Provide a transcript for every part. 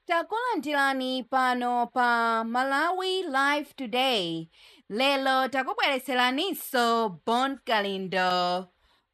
Takulandirani pano pa Malawi Live Today. Lero takubweretseraninso Bon Kalindo.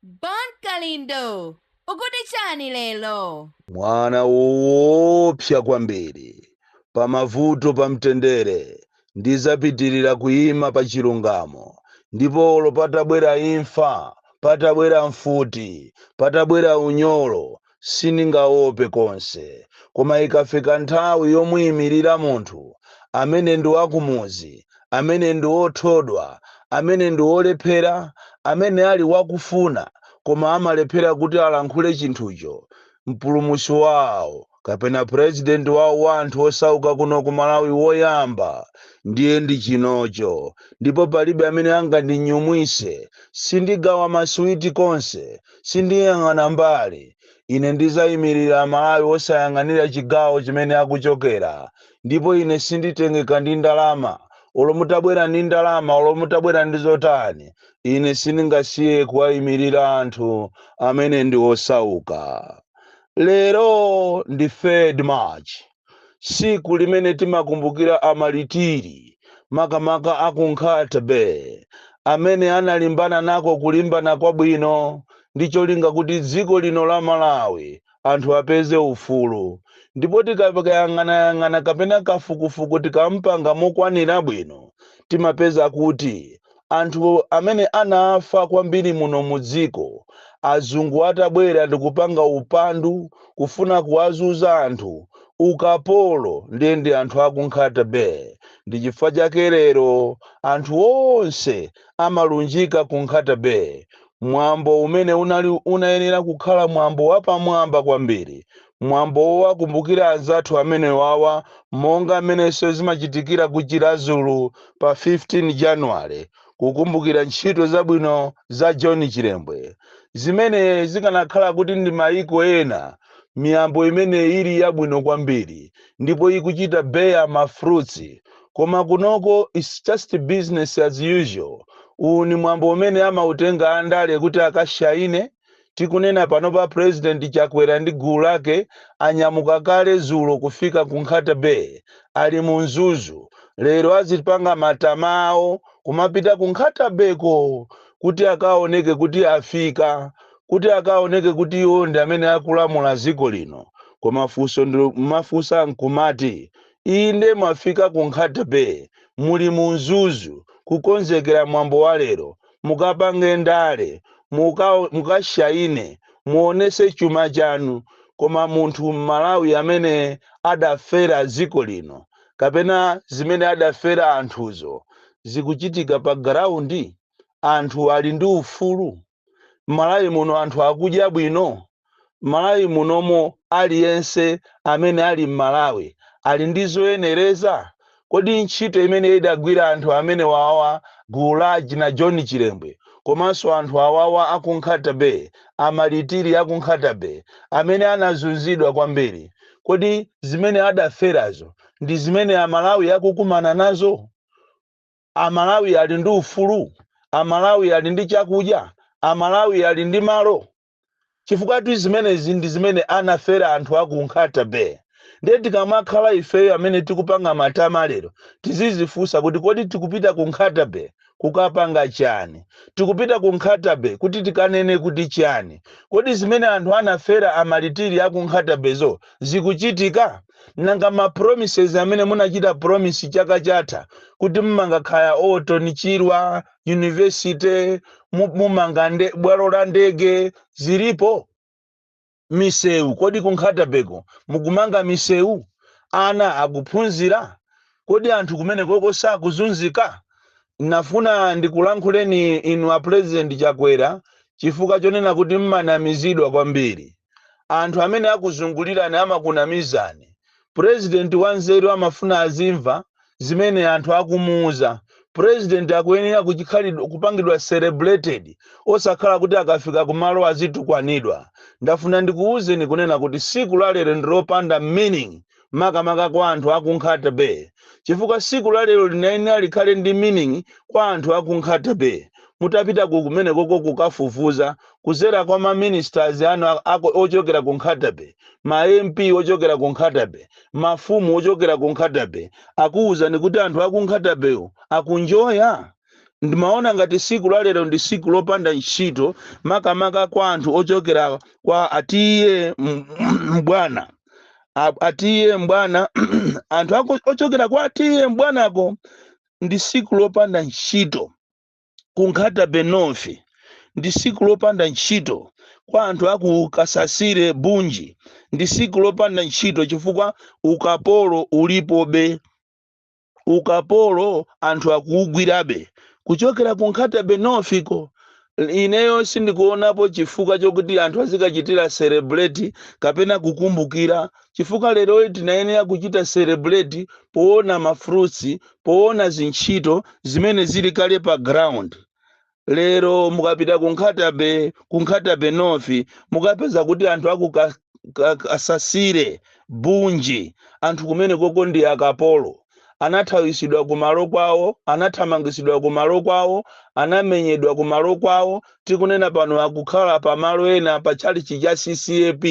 Bon Kalindo, ukuti chani lero? Mwana woopsa kwambiri, pamavuto pamtendere, ndidzapitirira kuima pachilungamo, ndipo olo patabwera imfa, patabwera mfuti, patabwera unyolo, sindingaope konse. Koma ikafika nthawi yomuimirira munthu amene ndi wakumudzi, amene ndi wothodwa, amene ndi wolephera, amene ali wakufuna koma amalephera kuti alankhule chinthucho, mpulumutsi wao kapena president wao wa anthu osauka kuno ku Malawi woyamba ndiye ndi chinocho ndipo palibe amene angandinyumwise. Sindigawa maswiti konse. Sindiyang'ana mbali. Ine ndidzaimirira Mmalawi osayang'anira chigawo chimene akuchokera. Ndipo ine sinditengeka ndi ndalama. Olo mutabwera ndi ndalama, olo mutabwera ndi zotani, ine sindingasiye kuwaimirira anthu amene ndi osauka. Lero ndi 3rd March. tsiku limene timakumbukira amalitiri, makamaka a ku Nkhata Bay, amene analimbana nako kulimbana kwabwino ndi cholinga kuti dziko lino la Malawi anthu apeze ufulu. Ndipo tikakayang'anayang'ana kapena kafukufuku tikampanga mokwanira bwino, timapeza kuti anthu amene anafa kwambiri muno mu dziko azungu atabwera ndikupanga upandu kufuna kuwazunza anthu ukapolo ndiye ndi anthu aku nkhata bay ndi chifukwa chake lero anthu onse amalunjika ku nkhata bay mwambo umene unali unayenera kukhala mwambo wapamwamba kwambiri Mwambo wowakumbukira anzathu amenewawa monga mmenenso zimachitikira ku Chiradzulu pa 15 January kukumbukira ntchito zabwino za John Chilembwe zimene zikanakhala kuti ndi maiko ena miyambo imene ili yabwino kwambiri ndipo ikuchita bear ma fruits koma kunoko it's just business as usual. Uwu ni mwambo umene amautenga andale kuti akashaine? Tikunena panopa President Chakwera ndi gulu lake anyamuka kale zulo kufika ku Nkhata Bay, ali mu Mzuzu. Lero azipanga matama awo kumapita ku Nkhata Bay ko kuti akaoneke kuti afika, kuti akaoneke kuti iwo ndi amene akulamula dziko lino. Koma funso ndimafunsa nkumati, inde mwafika ku Nkhata Bay, muli mu Mzuzu kukonzekera mwambo wa lero, mukapange ndale, muka mukashaine, muonese chuma chanu, koma munthu mmalawi amene adafera dziko lino kapena zimene adafera anthuzo zikuchitika pa ground? Anthu ali ndi ufulu? Mmalawi muno anthu akudya bwino? M'Malawi munomo aliyense amene ali m'Malawi ali ndi zoyenereza? Kodi ntchito imene idagwira anthu amenewawa gulu la akina John Chilembwe komanso anthu awawa aku Nkhata Bay, a Malitiri aku Nkhata Bay amene anazunzidwa kwambiri, kodi zimene adaferazo ndi zimene Amalawi akukumana nazo? Amalawi ali ndi ufulu? Amalawi ali ndi chakudya? Amalawi ali ndi malo? chifukwatu zimenezi ndi zimene anafera anthu a ku Nkhata Bay. Ndiye tikamakhala ifeyo amene tikupanga matama lero, tizidzifunsa kuti kodi tikupita ku Nkhata Bay kukapanga chani? Tikupita ku Nkhata Bay kuti tikanene kuti chani? Kodi zimene anthu anafera amalitiri a ku Nkhata Bay zo zikuchitika? Nanga ma promises amene munachita promise chaka chatha kuti mumanga kaya Orton Chirwa, yunivesite mu- mumanga nde- bwalo la ndege zilipo misewu kodi ku Nkhata Bay ko mukumanga misewu ana akuphunzira kodi anthu kumenekoko sakuzunzika nafuna ndikulankhuleni inu a president chakwera chifukwa chonena kuti mmanamizidwa kwambiri Anthu amene akuzungulirani amakunamizani. Purezidenti wanzeru amafuna azimva zimene anthu akumuuza. Purezidenti akuyenera kuchikhalidwe kupangidwa celebrated osakhala kuti akafika kumalo azitukwanidwa. Ndafuna ndikuuzeni kunena kuti siku la lero ndi lopanda meaning makamaka kwa anthu aku Nkhata Bay chifukwa siku la lero linayenera likhale ndi meaning kwa anthu aku Nkhata Bay mutapita ku kumenekoko kukafufuza kuzera kwa ma ministers anu a- ako- ochokera ku Nkhata Bay ma MP ochokera ku Nkhata Bay mafumu ochokera ku Nkhata Bay akuwuzani kuti anthu aku Nkhata Bay wo akunjoya ndimaona ngati siku la lero ndi siku lopanda ntchito makamaka kwa anthu ochokera kwa a TA M- M- M'bwana A- a TA M'bwana anthu ako ochokera kwa a TA M'bwanako ndi siku lopanda ntchito ku Nkhata Bay North ndi siku lopanda ntchito kwa anthu aku kasasire bunji ndi siku lopanda ntchito chifukwa ukapolo ulipobe ukapolo anthu akuugwirabe kuchokera ku Nkhata Bay North ko. Ineyo sindikuonapo chifukwa chokuti anthu azikachitira celebrate kapena kukumbukira chifukwa leroli tinayenera kuchita celebrate poona ma fruits, poona zintchito zimene zili kale pa ground. lero mukapita ku nkhata bay ku nkhata bay north mukapeza kuti anthu aku ka- ka- kasasire bunji anthu kumene koko ndi akapolo anathawisidwa kumalo kwawo anathamangisidwa kumalo kwawo anamenyedwa kumalo kwawo tikunena pano akukhala pa malo ena pa tchalichi cha ccap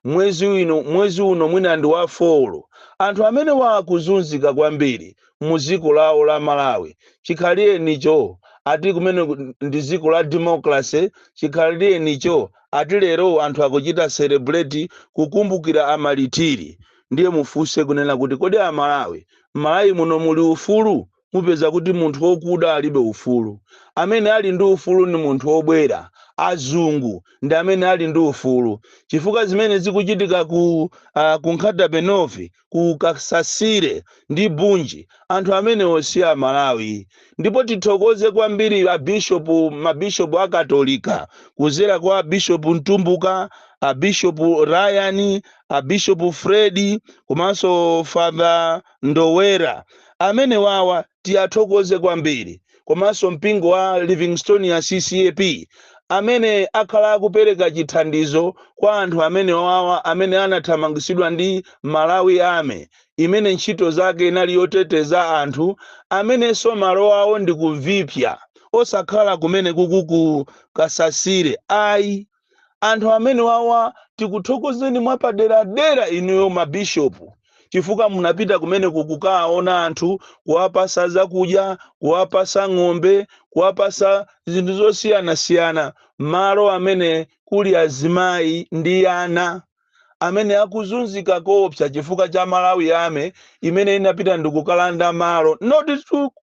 mwezi uno mwezi uno mwina ndi wa folo anthu amene wa akuzunzika kwambiri muziko lawo la Malawi chikhalirenicho ati kumene ndi ziko la democracy chikhalirenicho ati lero anthu akuchita celebrate kukumbukira amalitili ndiye mufuse kunena kuti kodi a Malawi Malawi muno muli ufulu mupeza kuti munthu wokuda alibe ufulu amene ali ndi ufulu ndi munthu wobwera azungu ndi amene ali ndi ufulu chifukwa zimene zikuchitika ku uh, ku Nkhata Bay North ku Kasasire ndi Bunji anthu amenewo si a Malawi ndipo tithokoze kwambiri a Bishop ma Bishop a Katolika kuzera kwa Bishop Mtumbuka a Bishop Ryan a Bishop Fred komanso Father Ndowera amenewawa tiyathokoze kwambiri komanso mpingo wa Livingstonia CCAP amene akhala akupereka chithandizo kwa anthu amenewawa amene anathamangisidwa ndi Malawi Army imene ntchito zake inali yoteteza anthu amenenso malo awo ndi ku Viphya osakhala kumene kuku ku Kasasire ayi. anthu amene wawa tikuthokozeni mwapaderadera inuyo ma bishop chifukwa munapita kumeneko kukaona anthu kuwapasa zakudya kuwapasa ng'ombe kuwapasa zinthu zosiyanasiyana malo amene kuli azimayi ndi ana amene akuzunzika koopsa chifukwa cha Malawi Army imene inapita ndikukalanda malo not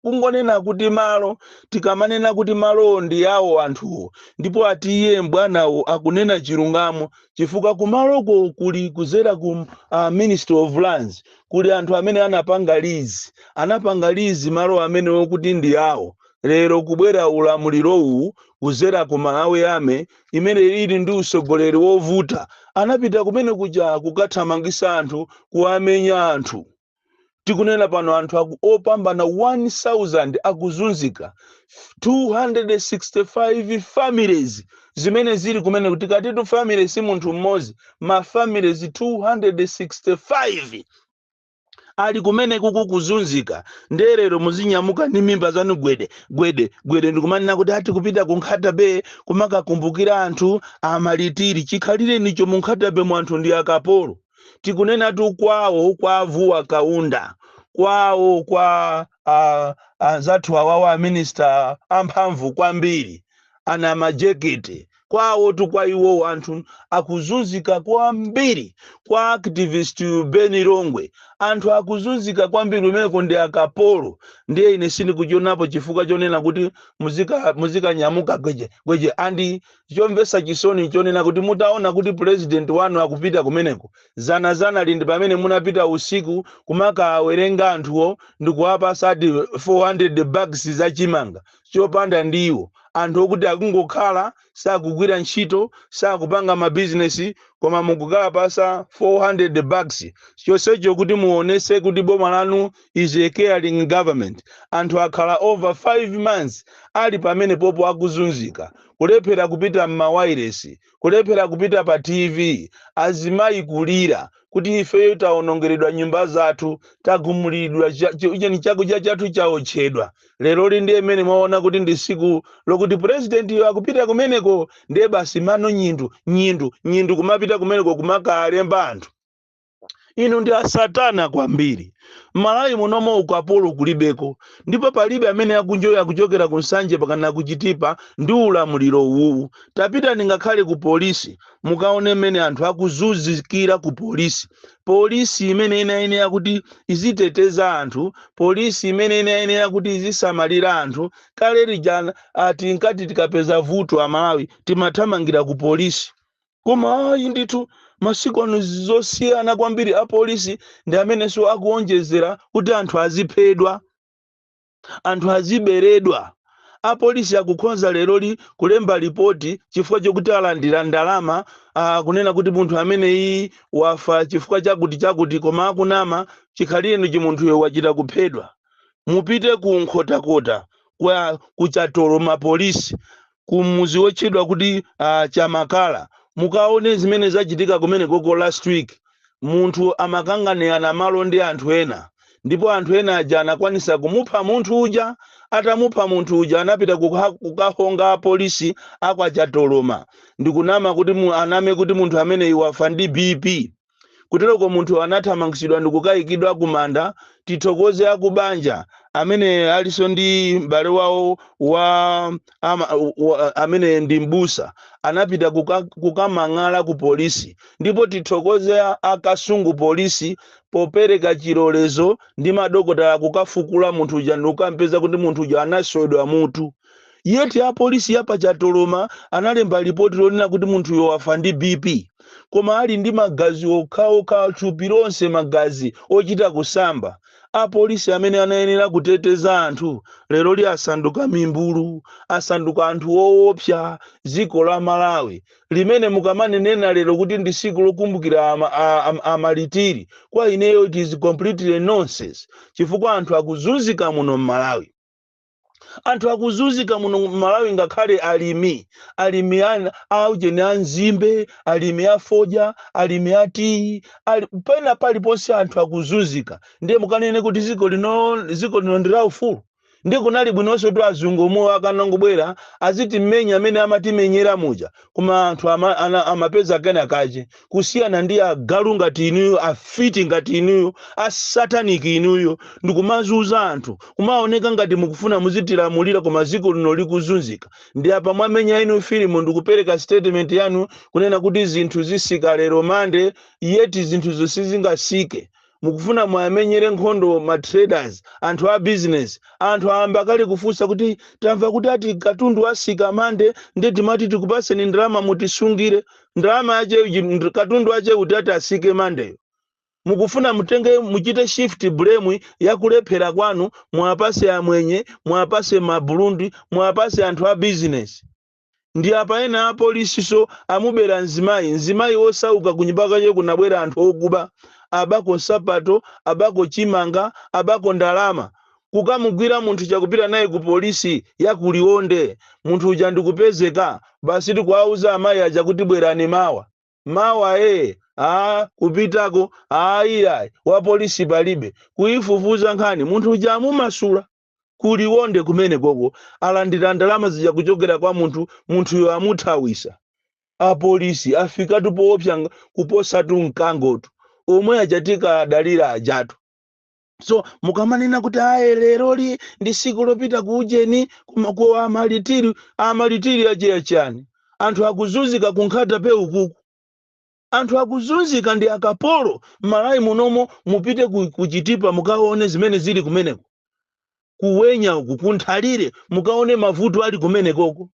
kungonena kuti malo tikamanena kuti malowo ndi awo anthuwo ndipo ati iye mbwanawo akunena chilungamo chifukwa kumaloko kuli kuzera ku uh, ministry of lands kuli anthu amene anapanga lizi anapanga lizi malo amenewo kuti ndi awo lero kubwera ulamulirowu kuzera ku malawi army imene ili ndi utsogoleri wovuta anapita kumene kuja kukathamangisa anthu kuwamenya anthu tikunena pano anthu aku- opambana 1000 akuzunzika 265 families zimene zili kumeneku tikatitu family si munthu mmodzi ma families 265 ali kumene kuku kuzunzika ndiye lero muzinyamuka ndi mimba zanu gwede gwede gwede ndikumanena kuti ati kupita ku Nkhata Bay kumakakumbukira anthu a Martyr chikhalirenicho mu Nkhata Bay mu anthu ndi akapolo tikunenatu kwawo kwa a Vuwa Kaunda kwawo kwa ah, anzathu awawa aminista amphamvu kwambiri a Namajekete kwawotu kwa iwowo anthu akuzunzika kwambiri kwa activist uyu Ben Longwe anthu akuzunzika kwambiri kumeneko ndi akapolo ndiye ine sindikuchionapo chifukwa chonena kuti muzika- muzikanyamuka gweje gweje and chomvetsa chisoni chonena kuti mutaona kuti president wanu akupita kumeneko dzana dzanali ndi pamene munapita usiku kumakawawerenga anthuwo ndikuwapatsa ati 400 bags za chimanga chopanda ndiwo, anthu okuti akungokhala, sakugwira ntchito, sakupanga ma business koma mukukawapatsa 400 bags chonsecho kuti muonetse kuti boma lanu is a caring government. Anthu akhala over 5 months ali pamenepopo akuzunzika, kulephera kupita mmawailesi, kulephera kupita pa TV, azimayi kulira kuti ifeyo tawonongeredwa nyumba zathu, tagumuliridwa, cha- chi- cheni- chakudya chathu chaotchedwa. Leroli ndiye mmene mwaona kuti ndi tsiku lokuti purezidentiyo akupita kumeneko, ndiye basi mano nyindu, nyindu, nyindu kumapita kumeneko kumakalemba anthu. inu ndi asatana kwambiri mmalawi munomu ukapolo kulibeko ndipo palibe amene akunjoya kuchokera ku Nsanje mpakana ku Chitipa ndi ulamuliro uwuwu tapitani ngakhale ku polisi mukaone mmene anthu akuzunzikira ku polisi polisi imene inayenera kuti iziteteza anthu polisi imene inayenera kuti izisamalira anthu kale lija nati tinkati tikapeza vuto amalawi timathamangira ku polisi koma ayi ndithu masiku ano zosiyana kwambiri apolisi ndi amenenso akuonjezera kuti anthu aziphedwa anthu aziberedwa apolisi akukhonza leroli kulemba lipoti chifukwa chokuti alandira ndalama ah, kunena kuti munthu ameneyi wafa chifukwa chakuti chakuti koma akunama chikhalirenicho munthuyo wachita kuphedwa mupite ku Nkhotakota kwa ku Chatoloma polisi ku mudzi wotchedwa kuti uh, Chamakala mukaone zimene zachitika kumenekoko last week munthu amakanganirana malo ndi anthu ena ndipo anthu ena aja anakwanisa kumupha munthu uja atamupha munthu uja anapita kuka- kukahonga apolisi a kwa Chatoloma ndikunama kuti mu- aname kuti munthu ameneyi wafa ndi bp Kuteroko munthu anathamangitsidwa ndikukayikidwa kumanda. Tithokoze akubanja amene alinso ndi m'bale wawo wa ama, wa, amene ndi m'busa anapita kuka, kukamang'ala ku polisi ndipo tithokoze a, a Kasungu polisi popereka chilolezo ndi madokotala kukafukula munthu uja ndikukampeza kuti munthu uja anaswedwa mutu. Yet apolisi ya pa Chatoloma analemba lipoti lonena kuti munthuyo wafa ndi BP koma ali ndi magazi okhaokha thupi lonse magazi ochita kusamba. Apolisi amene anayenera kuteteza anthu leroli asanduka mimbulu, asanduka anthu oopsa. Dziko la Malawi limene mukamanena lero kuti ndi tsiku lokumbukira a, a, a, amalitiri kwa ineyo it is completely nonsense chifukwa anthu akuzunzika muno m'Malawi. anthu akuzunzika muno m'malawi ngakhale alimi alimi ana aujeni a nzimbe alimi a fodya alimi a tiyi ali, pena paliponse anthu akuzunzika ndiye mukanene kuti ziko lino ziko lino ndi la ufulu ndi kunali bwinonso kuti azungu omwewo akanangobwera azitimenya mmene amatimenyera muja koma anthu ama, ana, amapeza kena kache kusiyana ndi agalu ngati inuyo afiti ngati inuyo asataniki inuyo ndikumazunza anthu kumaoneka ngati mukufuna muzitilamulira koma ziko lino likuzunzika ndi apa mwamenya inu filimu ndikupereka statement yanu kunena kuti zinthu zisika lero mande yeti zinthuzo sizingasike mukufuna muwamenyere nkhondo ma traders, anthu a business? Anthu ayamba kale kufunsa kuti tamva kuti ati katundu wasika Monday nde timati tikupatseni ndalama mutisungire. Ndalama yache uji- nd- katundu wache uti ati asike Mondayo? mukufuna mutenge muchite shift blame ya kulephera kwanu muwapase amwenye muwapase maburundi muwapase anthu a business Ndi apa ena a police so amubera mzimayi, mzimayi wosauka kunyumba kwake kunabwera anthu okuba, abako nsapato, abako chimanga, abako ndalama. Kukamugwira munthu uja kupita naye ku police ya ku Liwonde, munthu uja ndikupezeka, basi ndikuwauza amayi aja kuti bwerani mawa. Mawa ee, aah kupitako, aah iyayi, wa police palibe. Kuyifufuza nkhani, munthu uja amumasula. ku Liwonde kumenekoko alandira ndalama zija kuchokera kwa munthu, munthuyo amuthawisa. Apolisi afikatu poopsa ng- kuposatu mkangotu. Omwe aja tikuwadalira ajatu. So mukamanena kuti aye leroli ndi tsiku lopita ku ujeni kuma- ku amalitiri, amalitiri ache a chani? Anthu akuzunzika ku Nkhata Bay ukuku. Anthu akuzunzika ndi akapolo mmalawi munomo mupite ku chitipa mukaone zimene zili kumeneko ku wenya uku ku nthalire mukaone mavuto ali kumenekoko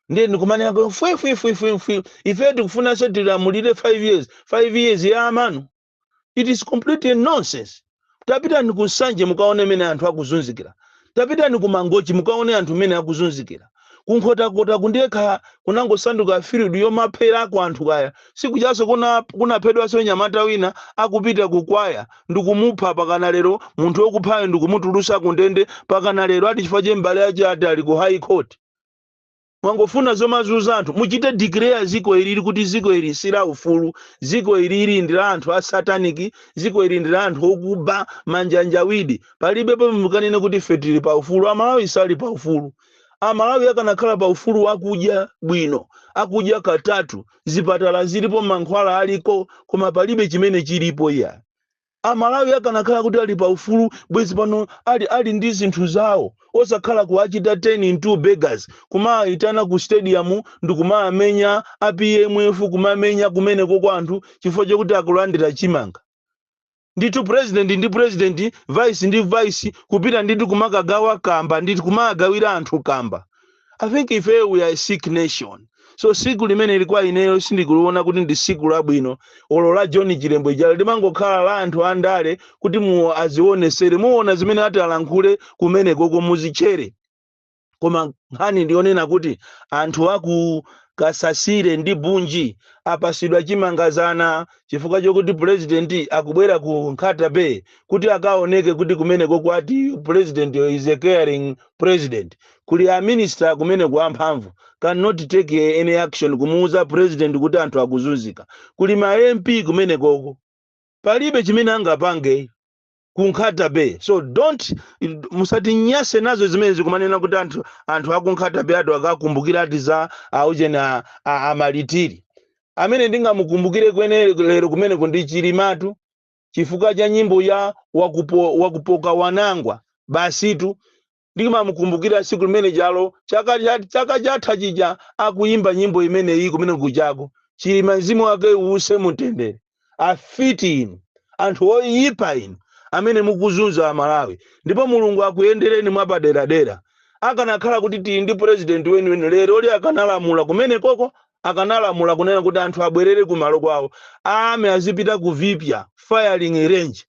ndiye ndikumanena kuti fwi fwi fwi fwi fwi ife tikufunanso tilamulire 5 years 5 years ya amanyu it is completely nonsense tapitani ku nsanje mukaone mene anthu akuzunzikira tapitani ku mangochi mukaone anthu mene akuzunzikira kunkhotakota ku ndekha kunangosanduka field yomapherako anthu kaya siku jaso kunaphedwaso nyamata wina akupita kukwaya ndikumupha pakana lero munthu wokuphayo ndikumutulusa kundende pakana lero ati chifukwa che mbale ache ati ali ku high court Mangofuna zomazuza anthu. Muchite declare ziko ilili kuti ziko ili si la ufulu. Ziko ilili ndi la anthu a satanic. Ziko ili ndi la anthu okuba, manjanjawidi. Palibe pomwe mukanene kuti ife tili pa ufulu. A Malawi sali pa ufulu. A Malawi akanakhala pa ufulu akudya bwino, akudya katatu, zipatala zilipo, mankhwala aliko, koma palibe chimene chilipo iya. Amalawi akanakhala kuti ali pa ufulu bwezi pano ali ali ndi zinthu zawo osakhala kuwachita turn into beggars kumawayitana ku stadium ndikumawamenya a pmf kumamenya kumeneko kwa anthu chifukwa chokuti akulandira chimanga. Ndithu president ndi president vice ndi vice kupita ndi kumakagawa kamba ndi kumawagawira anthu kamba I think ifeyo we are a sick nation. So siku limeneli kwa ineyo sindikuliona kuti ndi siku labwino olo la John Chilembwe jalo limangokhala la anthu andale kuti iwo azionesere muona zimene ati alankhule kumenekoko muzichere koma nkhani ndiyonena kuti anthu aku kasasire ndi bunji apasidwa chimanga zana chifukwa chokuti purezidenti akubwera ku nkhata bay kuti akaoneke kuti kumenekoko ati purezidenti is a caring president Kuli a minister kumeneko amphamvu cannot take any action kumuuza president kuti anthu akuzunzika. Kuli ma MP kumenekoko palibe chimene angapange ku Nkhata Bay. So don't musatinyase nazo zimenezi kumanena kuti anthu anthu aku Nkhata Bay ati akakumbukira ati za aujeni a, a, a malitiri. Amene ndingamukumbukire ine lero kumeneko ndi Chilimatu chifukwa cha nyimbo ya wakupo, wakupoka wanangwa basitu ndimamukumbukira tsiku limene jalo chaka cha- chaka chatha chija akuyimba nyimbo imeneyi kumene kujako chilima mzimu wake uuse mumtendere afiti inu anthu oyipa inu amene mukuzunza amalawi ndipo mulungu akuyendereni mwapaderadera akanakhala kuti tili ndi purezidenti weniweni leroli akanalamula kumenekoko akanalamula kunena kuti anthu abwerere kumalo kwawo army azipita ku vipya firing range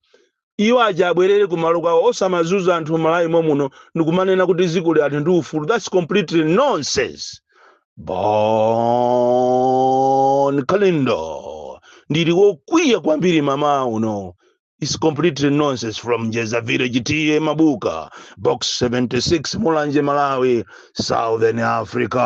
Iwo aja abwerere ku malo kwawo osamazuza anthu mmalawi momuno ndikumanena kuti zikoli ati ndi ufulu that's completely nonsense bon kalindo ndili wokwiya kwambiri mmawa uno it's completely nonsense from njeza village ta mabuka box 76 mulanje malawi southern africa